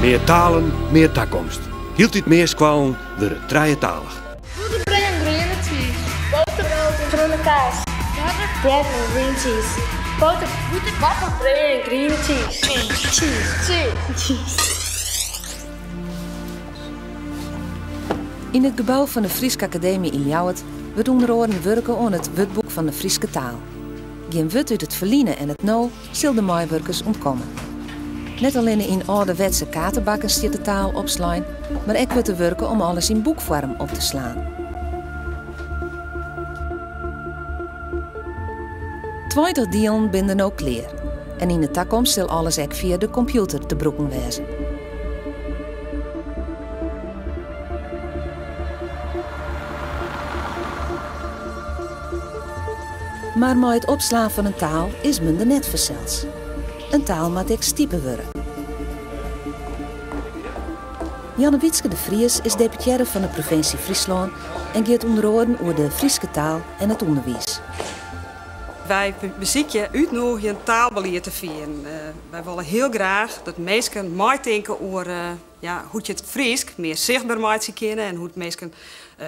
Mear talen, mear takomst. Hieltyd mear skoallen wurde trijetalich. Bûter, brea en griene tsiis. Boter, brood en groene kaas. Butter bread en green cheese. Boter boter butter, bread and green cheese. Cheese cheese cheese. Yn it gebou fan de Fryske Akademy yn Ljouwert wurdt ûnder oaren wurke oan it Wurdboek fan de Fryske Taal. Gjin wurd út it ferline en it no, sil de meiwurkers ûntkomme. Net allinne yn âlderwetse kaartebakken stiet de taal opslein, mar ek wurdt der wurke om alles yn boekfoarm op te slaan. Tweintich dielen binne der no klear en yn de takomst sil alles ek fia de kompjûter te brûken wêze. Mar mei it opslaan fan in taal is men der net fansels. In taal moat ek stipe wurde. Janne Wietske de Vries is deputearre fan de provinsje Fryslân en giet ûnder oaren oer de Fryske taal en it ûnderwiis. Wy besykje útnûgjend taalbelied te fieren. Wy wolle hiel graach dat minsken meitinke oer. Ja, hoe't je it Frysk mear sichtber meitsje kinne en hoe't minsken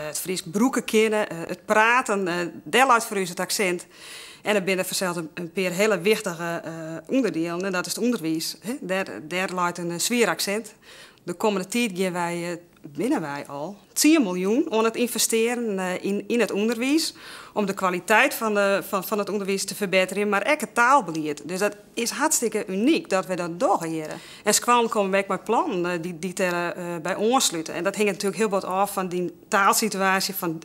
it Frysk brûke kinne, it praten, dêr leit foar ús it aksint. En der binne fansels in pear hiele wichtige ûnderdielen en dat is it ûnderwiis. Dêr leit in swier aksint. De kommende tiid gean wy, binne wy al, tsien miljoen oan it ynvestearjen yn it ûnderwiis, om de kwaliteit fan it ûnderwiis te ferbetterjen, mar ek it taalbelied. Dus dat is hartstikke unyk dat we dat dogge hjir. En skoallen komme ek mei plannen dy't der by oanslute. En dat hinget natuerlik hiel bot ôf fan dyn taalsituaasje fan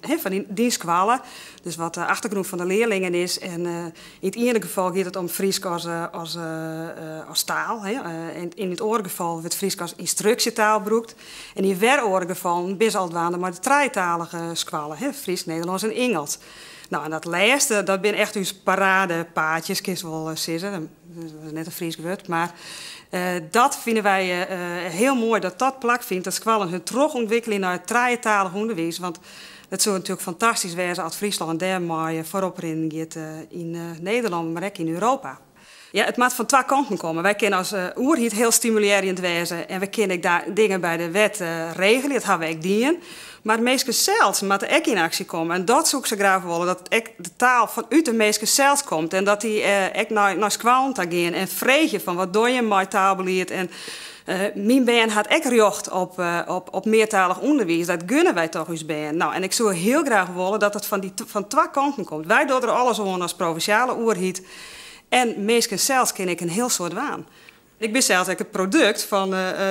dyn skoalle. Dus wat de eftergrûn fan de learlingen is. En yn it iene gefal giet it om Frysk as taal. Yn it oare gefal wurdt Frysk as ynstruksjetaal brûkt. En yn wer oare gefallen binne se al dwaande mei de trijetalige skoalle, Frysk, Nederlânsk en Ingelsk. No, en dat lêste, dat binne echt ús paradepaardjes, kinst wol sizze, dat is net in Frysk wurd, mar dat fine wy hiel moai dat dat plak fynt dat skoallen hun trochûntwikkelje nei it trijetalich ûnderwiis, want it soe natuerlik fantastysk wêze as Fryslân dêrmei foarop rinnen giet yn Nederlân, mar ek yn Europa. Ja, it moat fan twa kanten komme. Wy kinne as oerheid hiel stimulearjend wêze en we kinne ek dingen by de wet regelje, dat hawwe we ek dien. Mar minsken sels moatte ek yn aksje komme en dat soe ik sa graach wolle, dat ek de taal fanút de minsken sels komt en dat dy ek nei skoallen ta gean en freegje fan wat dogge jim mei taalbelied en myn bern hat ek rjocht op meartalich ûnderwiis, dat gunne wy toch ús bern. No, en ik soe hiel graach wolle dat it fan twa kanten komt. Wy dogge der alles oan as provinsjale oerheid En minsken sels kinne ek in hiel soad dwaan. Ik bin sels ek it produkt fan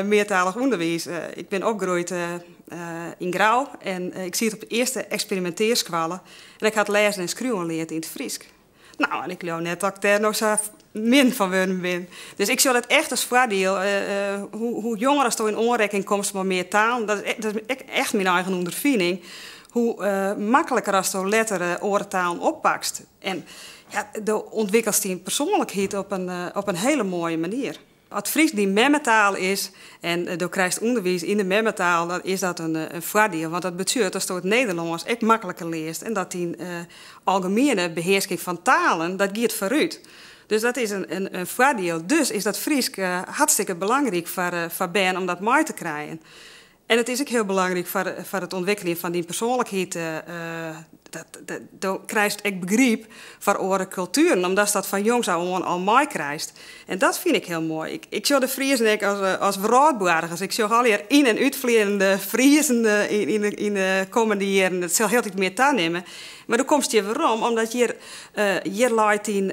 meartalich ûnderwiis. Ik bin opgroeid yn Grou en ik siet op de earste eksperimintearskoalle en ik ha it lêzen en skriuwen leard yn it Frysk. No, en ik leau net dat ik dêr no sa min fan wurden bin. Dus ik sjoch dat echt as foardiel. Hoe jonger as do yn oanreitsing komst mei mear talen, dat is echt myn eigen ûnderfining, hoe makliker as do letter oare talen oppakst. En ja, do ûntwikkelst dyn persoanlikheid op in, eh, op in hiele moaie manier. As Frysk dyn memmetaal is en eh, do krijst ûnderwiis yn de memmetaal, dan is dat in, eh, in foardiel. Want dat betsjut datsto it Nederlânsk ek makliker learst en dat dyn eh, algemiene behearsking fan talen, dat giet foarút. Dus dat is in, in, in foardiel. Dus is dat Frysk eh, hartstikke belangryk foar, eh, foar bern om dat mei te krijen. En it is ek hiel belangryk foar it ûntwikkeljen fan dyn persoanlikheid. Do krijst ek begryp foar oare kultueren, omdatst dat fan jongs ôf oan al meikrijst. En dat fyn ik hiel moai. Ik sjoch de Friezen ek as wrâldboargers. Ik sjoch allegear yn- en útfleanende Friezen yn de kommende jierren. It sil hieltyd mear tanimme. Mar do komst hjir werom, omdat hjir leit dyn.